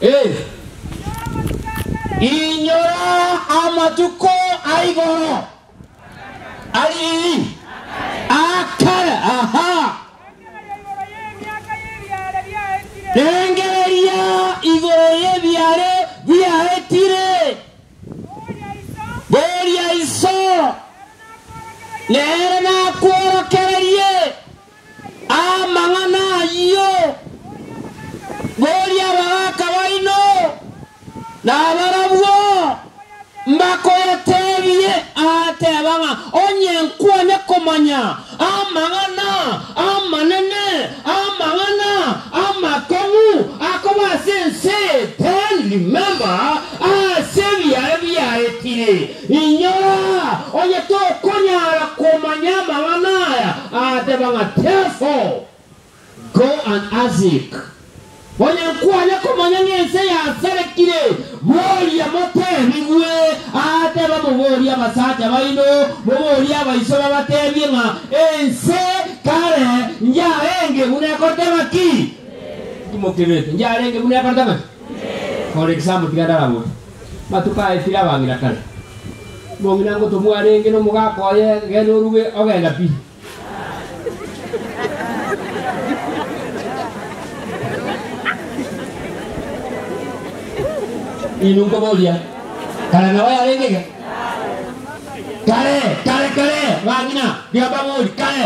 Ee, inyora amatuko a igoro ari ii akare, aha, rengereria igoro y'ebiaare biaetire, boria iso nere nakworokererie. Amang'ana ayio, boria abagaaka baino nabarabwo mbakoyatebie, aateba ng'a onye nkwane komanya amang'ana amanene, amang'ana amakong'u akoba ase ense, then remember ase ebiaye biaetire. Inyora onye tokonyara komanya amang'ana aya agateba ng'a Therefore, go and ask, onye nkware komanya ng'a ense yasarekire, boria motebigwe. Agateba, Moborie abasacha baino, moborie abaiso babatebie ng'a ense kare yarenge buna ekorete ng'aki? Timokebeete, yarenge buna ekorete ng'aki? Ore Kisambo tiga ndaragote. Matuko aye tire abang'ina kare. Mong'ina ngotomwa arenge nomogaka oye gena oruge ogenda pi. Inwe nkoboria kare nao yarenge iga? Kare, kare, kare, bang'ina, tiga mbabori, kare.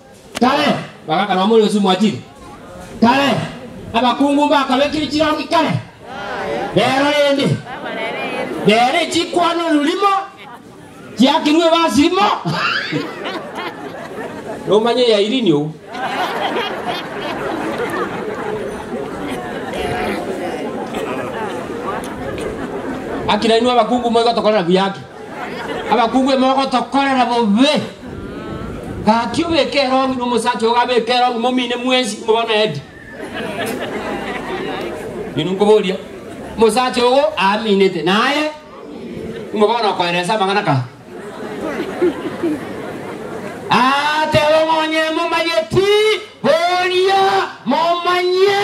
Kare, bagaka nomo ore Yosumu achire. Kare, abakungu mbakabekire chirongi kare. Rero rende, rere chikwano rurimo chiakirwe ebasirimo. Nomanye ya Irini ou. Akira inwe abakungu moigotokorera buya ake. Abakungu ime ogotokorera bobe. Gaki obeke erongi na omosacha ogo abeke erongi momine mwensi moba na edi. Inwe nkoboria, omosacha ogo aaminete naye imwe bono okoera ense amang'ana kaa? Aateba, Monyene momanyeti, boria momanye.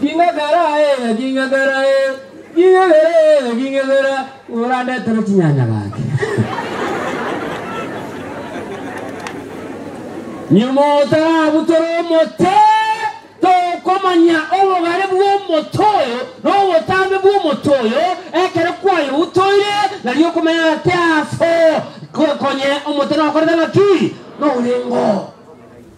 Ging'egera, ee, ging'egera, ee, ging'egera, ee, ging'egera, orandetere chinyanya gaki. Nyuma otarabutere omote, tokomanya obogare bw'omote oyo na obotambe bw'omote oyo, ekero kwayobutoire, nario okomanya ng'a tiaso, ko- konye omote nokorete ng'aki? Norengo.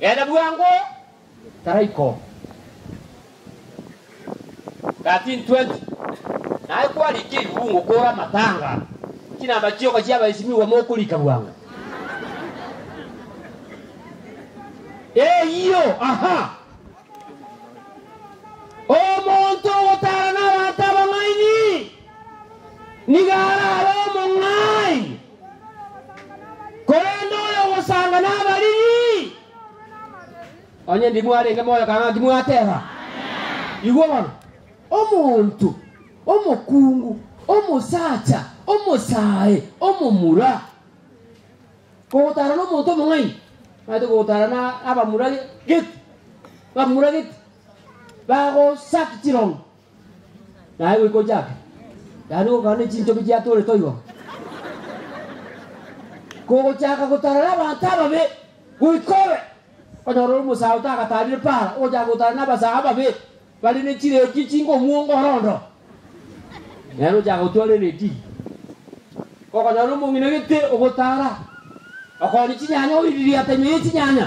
Genda bwango Taraiko. 1320 Naye kwarikia ebibuungo koora amatanga, chinamba chioka chi'abaesimigwa mokorika bwango. Eyio, aha! Omonto ogotaara nabaanto abang'aini nigo arabe omong'aini. Korende oyogosanga nabariri, onye ndi mwarenge moyo kang'ana timwateba, Igwa bono, omonto omokungu, omosacha omosae, omomura, kogotara nomonto omong'aini, naete kogotara na abamura geti, bamura geti, bagosaki chirongo. Naye goika ochake, yaani gokana nechinchobi chiatoorete oigo. Kogochaka gotarana abanto ababe, goika obe, onyore ore omosae otagatarire para, ogochaka gotarana abasae ababe, bare nechiredio chinkomuonga ore ondo. Yaani ochaka gotwara eredio. Okonyora omong'ina gete ogotara, okore chinyanya oiririe atenyo ye chinyanya.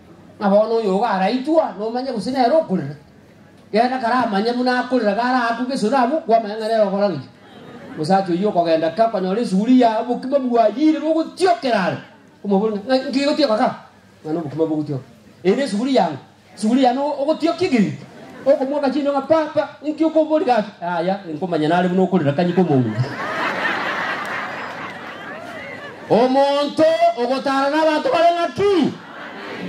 Ng'a bono oyo iga araitwa, nomanye gose nere okorera. Genda kare amanye buna akorera iga araakwe gesore abwo kwamanya ng'a nere okora gaki. Omosacha oyio okogenda ake okonyora esuguria ya obokima bwayire bogotiokera are. Omobori ng'a, Ng'a inki gigotioka ka? Ng'a nobokima bogotioka. Ere esuguria yang'o? Esuguria yane o- ogotiokia egerito. Okomoaka chindo ng'a, Papa, inki okombori gaki? Yaya, inkomanya nare buna okorera kanyika omounga. Omonto ogotaara nabato bare ng'aki?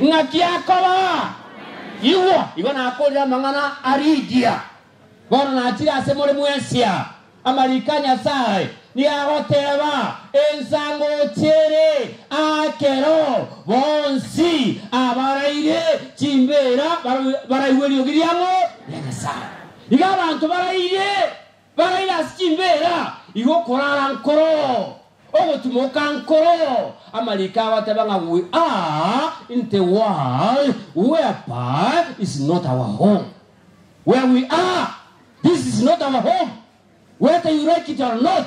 Ng'aki akoba, Igwa, igo nakoorire amang'ana a Rigia, bono nachire ase more mw'Asia. Amariko a Nyasae nigo agoteeba, Ensa ngochia ere aakero, bonsi abaraire chimbeera baraigwe eriogi riang'o ria Nyasae. Iga abanto baraire. Baraire ase chimbeera, igo okorara nkoro, ogotimoka nkoro, amariiko agoteeba ng'a we are in the world whereby is not our home. Where we are, this is not our home, whether you like it or not,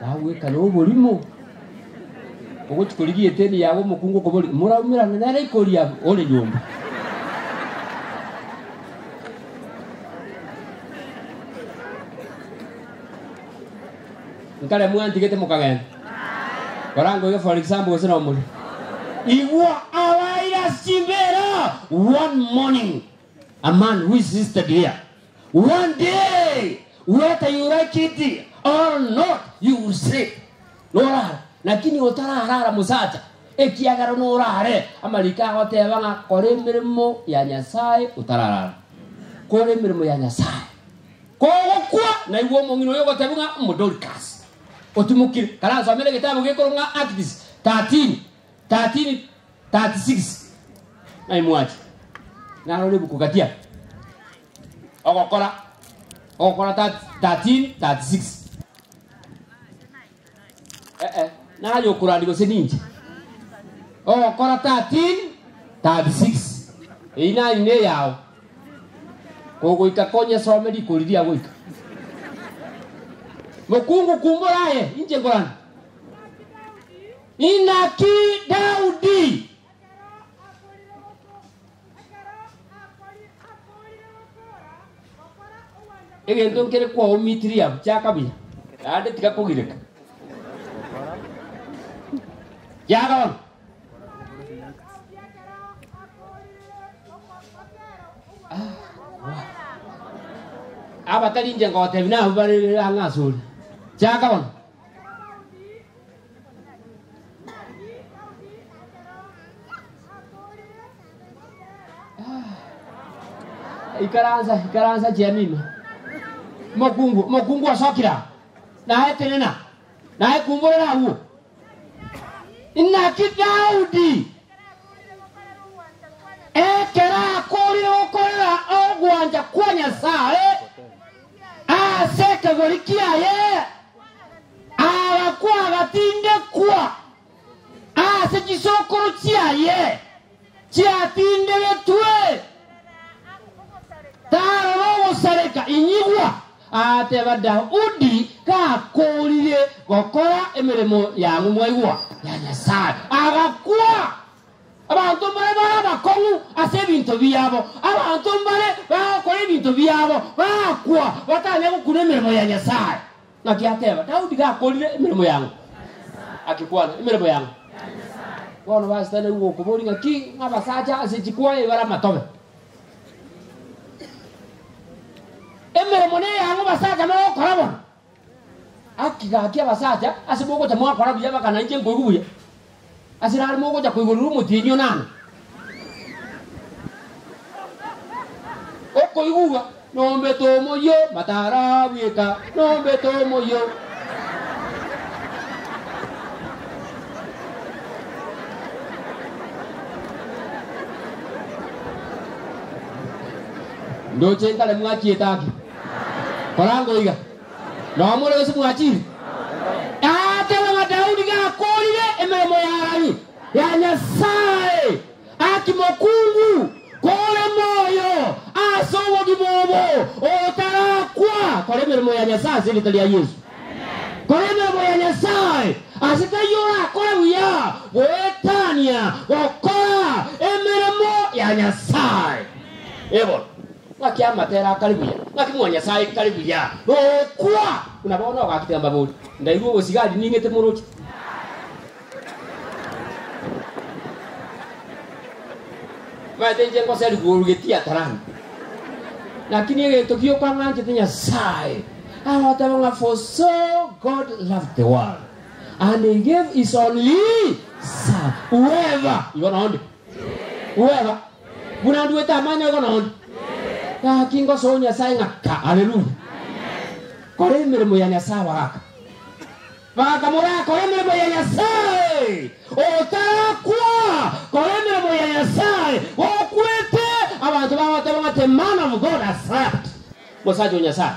Bagweka noborimo, ogochia korigia eteni yabo omokungu okoboria, Moraumerane nere ikoria abwo ore nyomba? Nkare mwantigete mokagenda koranga oyo for example gose nomori. Igwa abaire ase chimbeera one morning a man who is sister dear One day, whether you like it or not, you will sleep. Norara, lakini otararara mosacha, ekiagera norare. Amariko agoteba ng'a kora emeremo ya Nyasae otararara. Kora emeremo ya Nyasae. Kogokwa, naigwa omong'ina oyo ogoteba ng'a omo Dorcas. Otimokire. Karansomere egetabu gekorwa ng'a Acts 13. 13:36 Naye mwachi narore ebuku gatia ogokora ogokora 13:36 Eh, eh, naye okorandi gose ninche ogokora 13:36 eyi naye ne yao kogoika konyesome rikori ria goika mokungu kumbora aye inche nkorandi Inaki Daudi? Egento nkere kwao Mithriamu kia kabira, naende tiga kogireka. Yarora. abatari inche ngotebi nabo bare ang'e asore. Kia kabona. Ikaransa, ikaransa chiamino. Mokungu, mokungu osokira. Naye tenena. Naye kumborera agwo. Inaki Daudi ekero akorire gokorera ogwancha kwa Nyasaye ase ekegori kiaye Agakwa agatindekwa ase chisokoro chiaye chiatindegetwe, tarora ogosareka. Inyigwa! Agateba Daudi gakoorire gokora emeremo y'ang'u mwaigwa ya Nyasae, agakwa. Abanto mbare bare abakong'u ase ebinto biabo, abanto mbare bagokora ebinto biabo bagakwa, batanya gokuna emeremo ya Nyasae. Naki ateba, Daudi gakorire emeremo y'ang'u, agekwana, Emeremo y'ang'u. Bono basetane gokoboria ng'aki ng'abasacha ase chikwaya ibare amatobe. Emeremo neyang'u basacha mogokora bono. Gaki gaki abasacha ase mogocha mwakora buya bakana inche nkoigwe buya. Ase rare mogocha koigorera omotienyi o nani? Okoigugwa nombete omoyio matara bweka nombete omoyio. Ndoche nkare mwachiete aki. Korangwa oiga, nao more gose mwachiire? Agateba ng'a Daudi gakoorire emeremo ya Harani ya Nyasae, Aki mokungu, kore moyo ase obogima obo, otarakwa, kora emeremo ya Nyasae ase erieta ria Yeso. Kora emeremo ya Nyasae, ase taiyo orakore buya goetania gokora emeremo ya Nyasae. Ebora. Ng'aki amatera akare buya, ng'aki mwa Nyasae ikare buya gokwa buna bono ogakire amabori. Ndairwe obosigari ning'ete moroche. Omanyete inche ngoserigwe orugetie atarani. Naki negento ki okang'anchete Nyasae, agoteba ng'a for so God loved the world and he gave his only son whoever igo nonde Bwega, buna nduete amang'ana igo nonya, gaki ngosa o Nyasae ng'aka. Aleluya! Kora emeremo ya Nyasae abagaka. Bagaka morakore emeremo ya Nyasae. Otarakwa, kora emeremo ya Nyasae. Gokwete, abanto bagoteba ng'a the man of God has slept. Mosacha o Nyasae.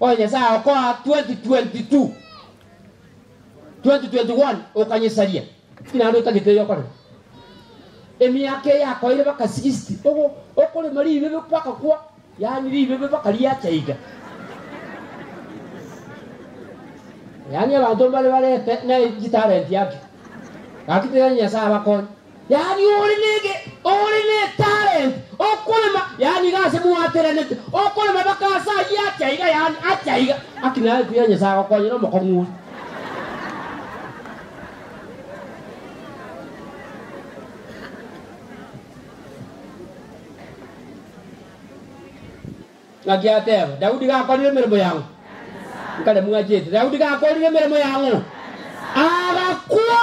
Oyo Nyasae agokoa 2022 2021 okanyesaria ki naende otagete eyo okorema? Emiaka eye yakoeire baka 60 ogo okorema ribebe mpaka kwa yaani ribebe mpaka riacha iga yaani abanto mbare barete ne chitalenti ake gaki tene Nyasae abakonye yaani ore nege, ore netalent, okorema, yaani iga ase mwaterenete, okorema baka ase ayio atia iga, yaani atia iga, aki naye kuya Nyasaye agokonyera omokong'u oria. Ng'aki ateba, Daudi gakorire emeremo yang'o? Nkare mwachete, Daudi gakorire emeremo yang'o? Agakwa!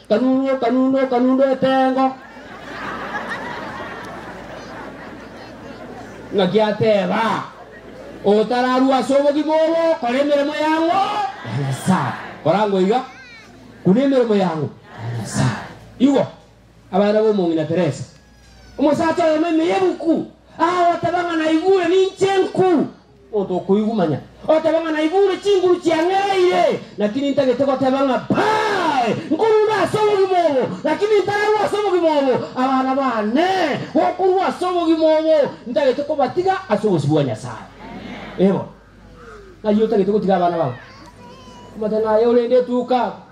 Kanunu okanunu okanunu etengo. Ng'aki ateba, Otararue ase obogima obo, kora emeremo y'ang'o ya Nyasae. Korangwa iga, Kuna emeremo y'ang'o ya Nyasae. Igwa, abana b'omong'ina Teresa. Omosacha oyomo ime y'ebuku agooteba ng'a naigure ninche enku Omonto okoigwa manya oteba ng'a naigure chinguru chiang'ereire, lakini ntagete goteba ng'a Bae! Nkorure ase obogima obo, lakini ntararue ase obogima obo. Abana baane gokorua ase obogima obo, ntagete kobatiga ase obosio bwa Nyasae. Ee bono. Ng'ai otagete gotiga abana bao? Omote ng'ai ore inde etuuka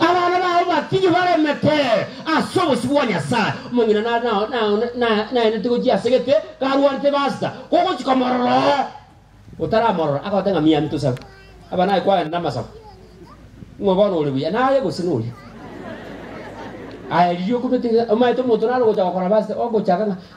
Abana bao batige baremete ase obosio bwa Nyasae. Omong'ina nare nao- nao- na- naenete gochia ase egete, karwarete ebasita, kogochia komorora oo otaramorora, agote ng'a Miami tosabe. Abana aye kwagenda namasabo. Ng'o bono ore buya, naye gose noria? Aya riria okomete ng'a omaete omonto naro gocha gokora basita, ogochaka ng'a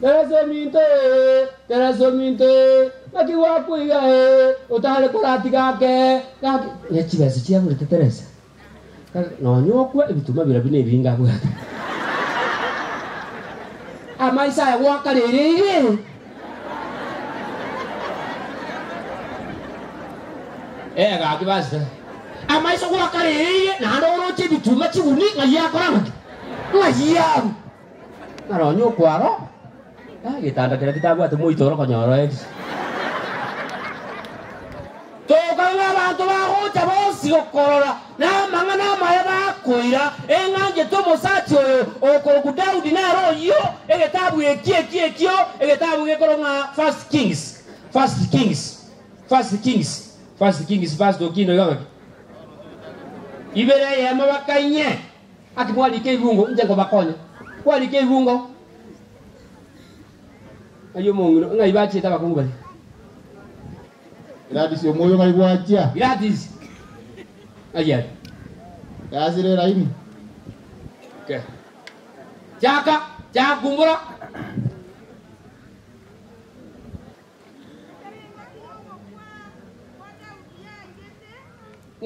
Keresa eminto ee, keresa eminto ee, naki gwakwa iga ee, otare koratiga ake, gaki. Ne chibesa chiagurete Teresa, Kare nonya okwe ebituma birabwo nebinge abwate. Amaiso aya gwaka rere iga ee. Eh, gaki basta. Amaiso gwaka rere iga, naende oroche ebituma chiguni ng'ai akora ng'aki? Ng'ai abu. Naro onye okwaro getanda keria getabwate moito ore konyora oerio. Tokang'e abanto bagocha bonsi gokorora, na amang'ana amaya bakoira, eng'anchete omosacha oyo okorokwa Daudi nere oyio. Egetabu eki eki ekio egetabu gekorokwa ng'a First Kings, First Kings, First Kings, First Kings, First Okino iga ngaki ibere eyemo bakang'e Gaki mwarike eirungo, inche nkobakonya. Kwarika eirungo, ng'ai omong'ina, ng'ai bachiete abakungu baria? Gladys, omoyo ng'ai gwachia? Gladys, ng'ai are? Yasire eraini. Okay. Chaka, chaka kumbura.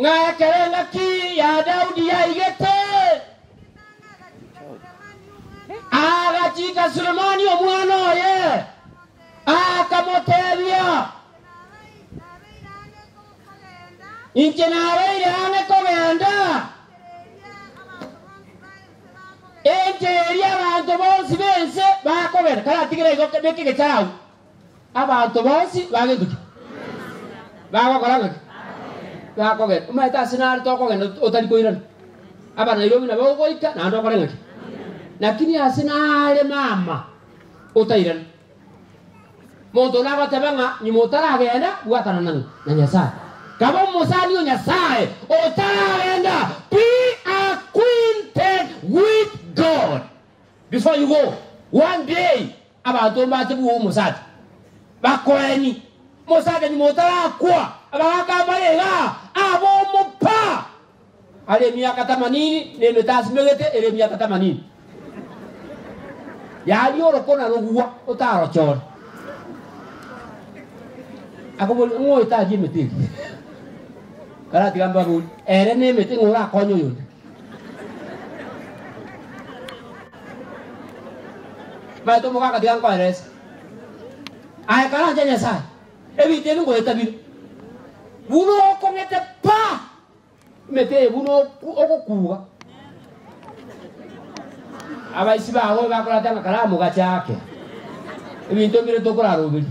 Ng'a ekero engaki ya Daudi yaigete, agachiika Sulemani omwana oye, akamoteebia, Inche nabeire ang'e kogenda enchera eria abanto bonsi b'ense bakogenda. Karatigere igo, beka egechara agwo. Abanto bonsi bageke ki? Bagokora ng'aki? Bakogenda. Omanyete ase nare tokogenda ot- otari koirana. Aba Nairobi nabo ogoika naende okore ng'aki? Lakini ase nare mama otairana. Monto one agoteba ng'a nyuma otaragenda bwatana na na Nyasaye. Kaba omosani o Nyasaye otaragenda be acquainted with God before you go. One day Abanto mbache bwou omosacha, bakoeni, Mosakenyi motarakwa, abagaka mbarega abomopa are emiaka tamanini, na emete asimegete ere emiaka tamanini. Yaria oroko na rogwa otarochore. Akoboria, Ng'o oyo taria emete eria? Karatiga mbabori, Ere nemete ng'o orakonye oyonde? Baito omoka akatiga nkoerese. Aye karanche Nyasae, ebinto ebi ngoetabire. Buna okong'ete pa! Emete eye buna oku- ogokuga. Abaisi bago bakorata ng'a karamu gachaake. Ebinto bire tokoraroberia.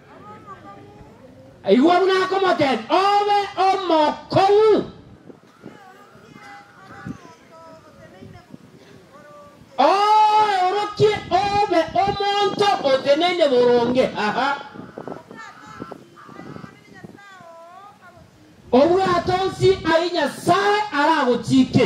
Igwa buna akomoteebia, Obe omokong'u. Oorokie obe omonto oteneine boronge. Aha. Obwato nsi ayio Nyasae aragochiike.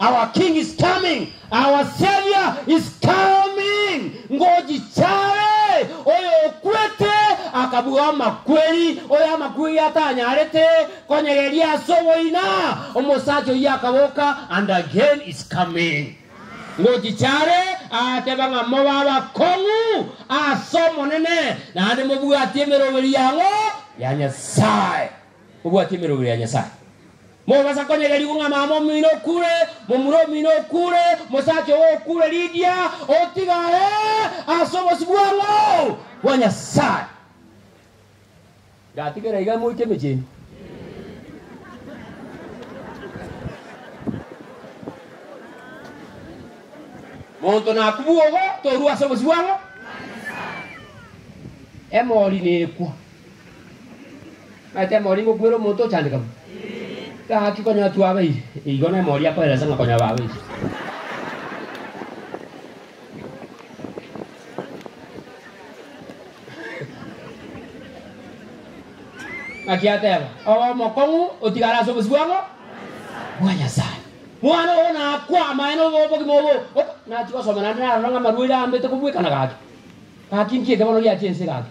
Our King is coming, our Saviour is coming, ngochichare, oyokwete akabua amakweri, oyo amakweri atanyarete konyereria ase oboina, omosacha oyio akaboka, and again is coming. Ngochichare agateba ng'a mobe abakong'u ase Omonene, naende mobwatie emeroberi yang'o ya Nyasae. Mobwatie emeroberi ya Nyasae. Mogasa konyegerigwa ng'a mama omino okure, momura omino okure, mosacha ogo okure Lidia, otiga aye ase obosio bw'ang'o bwa Nyasaye. Ngatigera iga moike emechenu. Monto nakubua ogo torue ase obosio bw'ang'o bwa Nyasaye. Emori nekwa. Naete emori ngokwere omonto ochandeka bo. Gaki konya twabeire. Igo nemori akoelesa ng'a konya babeire. Gaki ateba, obe omokong'u otigare ase obosibwang'u bwa Nyasaye. Mwana ogo nakwa amaene obo obogima obo ok nachi gosoma naende narora ng'a amarwaire ambete kobwekana gaki. Gaki nki eke bono giachia ense gaki?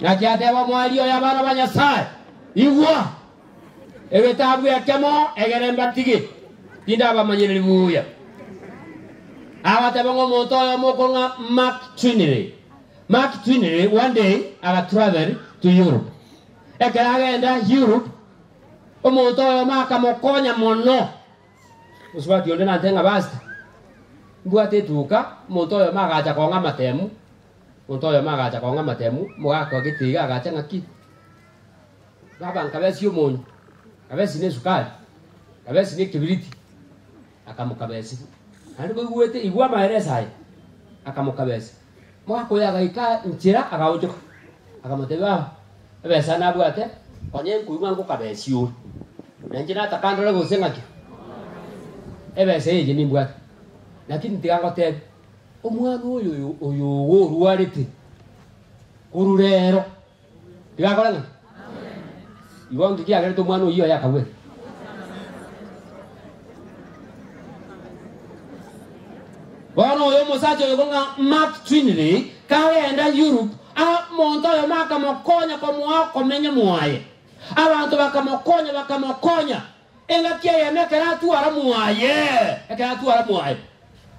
Naki ateba omwari oye abana ba Nyasae, Igwa! Egetabu ekemo egere mbatigi, tindabamanyereri buya. Abatebe ng'a omonto oyomo okong'a Mark Trinley, Mark Twinery one day agatravel to Europe. Ekero agenda Europe, omonto oyomo akamokonya mono. Mosubati onde nante ng'a Pastor, mbwate etuka, omonto oyomo agacha kong'a amatemu. Omonto oyomo agacha kong'a amatemu, omogaka o getiiga agacha ng'a ki? Baba, nkabesie omonyo, nkabesie nesukari, nkabesie nekibiriti. Akamokabesia. Naende koigwete igwa amaereso aye, akamokabesia. Omogaka oye agaika nchera, agaonchoka, akamotebia, Ao ebesa nabwate, onye nkoigwa ngokabesie ore, na inche nataka ndore gose ng'aki ebesa eye inche nimbwate. Lakini tiga ngoteebie, omwana oyo oyo oyo ogo orwarete korwa reero, Rigakora ng'a igo onsi kiagerete omwana oyio oye akagwera. Bono oyo omosacha oyo ng'a Mark Twinley kagenda Europe, omonto oyomo akamokonya komoa okomenya mwaye. Abanto bakamokonya bakamokonya engaki eyemo ekero atwara mwaye ekero atwara mwaye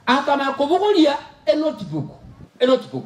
akamanya kobogoria enotebook enotebook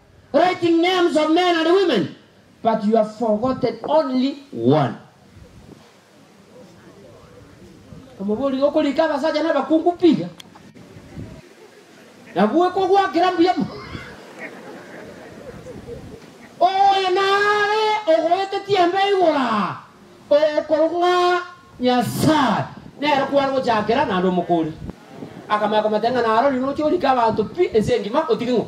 writing names of men and women, but you have forgotten only one. Omoborio okorika abasacha nabakungu piga, nabwo ekogwakera mbuya mono. Oyo nare ogoetetie embe igoro aa, okorwa ng'a Nyasae nere kware gochakera naende omokori. Akamanya komoteebia ng'a narorio noche orike abanto pi ense engima otige ng'o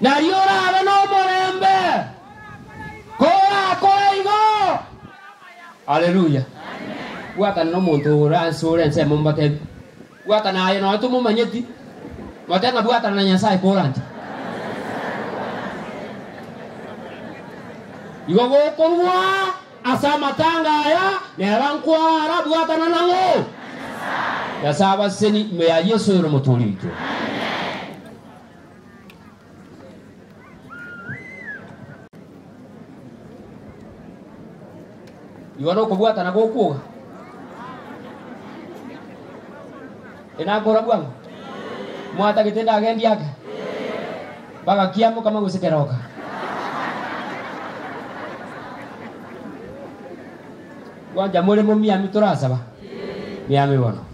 Nario orabe nomorembe korakore igo. Aleluya! Gwakana nomonto ore anse ore ensemo mobatebie, Gwakana aye nonya tomomanyeti, mote ng'a bwakana na Nyasae koranche. Igo gokorwa. Ase amatanga aya neba nkwara bwatana na ng'o? Nyasae abaseseni ime ya Yesu ere Omotuori oito. Igwa nokobwatana gokwoga. Enakora bwango? Mwatagete ndagendi ake? Bagakia mokama gose keroka. Gwancha more momiami torasaba? Miami bono.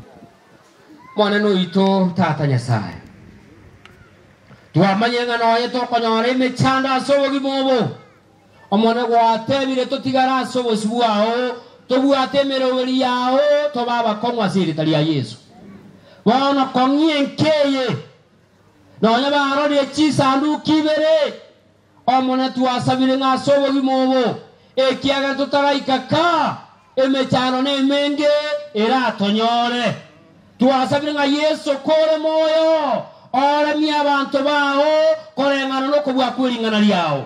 Monene oito Tata Nyasae, twamanyire ng'a noye tokonyora emechando ase obogima obo. Omonene gwateebire, Totigare ase obosio bwao, tobwate emeroberi yao, tobe abakong'u ase erieta ria Yeso. Bono kong'ia enka eye. Nonya barorire chisanduku ibere Omonene twasabire ng'a ase obogima obo, ekiagera totagaika kaa. Emechando nemenge eratonyore. Twasabire ng'a Yeso kore moyo oremie abanto bao koreng'ana nokobua kwering'ana riao.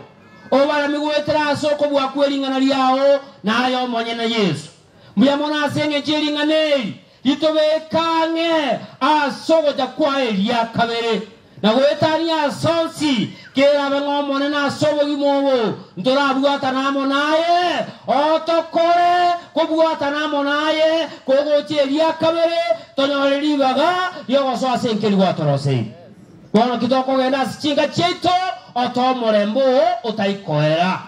Obaremie goetera ase okobua kwering'ana riao naye omonyene, Yeso. Mbuya mono ase engencho yering'ana eri, Ritobeke ang'e ase ogocha kwaye eria kabere, na goetania ase onsi kerabe ng'Omonene ase obogima obo ntorabwatane amo naye, otokore kobwatana amo naye kogocha eria kabere, tonyore ribaga ri'ogosoa ase enkeri gwatoroseire. Bono ki tokogenda ase chinka chiaito, oto omorembe oo otai koera.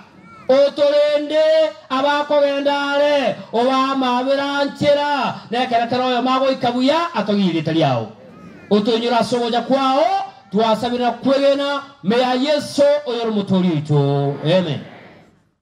Otorende abakogenda aare, obamabera nchera, nekero kera oyomo agoika buya atogie erieta riao. Otoinyore ase ogocha kwao, twasabire na kwegena, me ya Yeso, oyore Omotoori oito. Amen.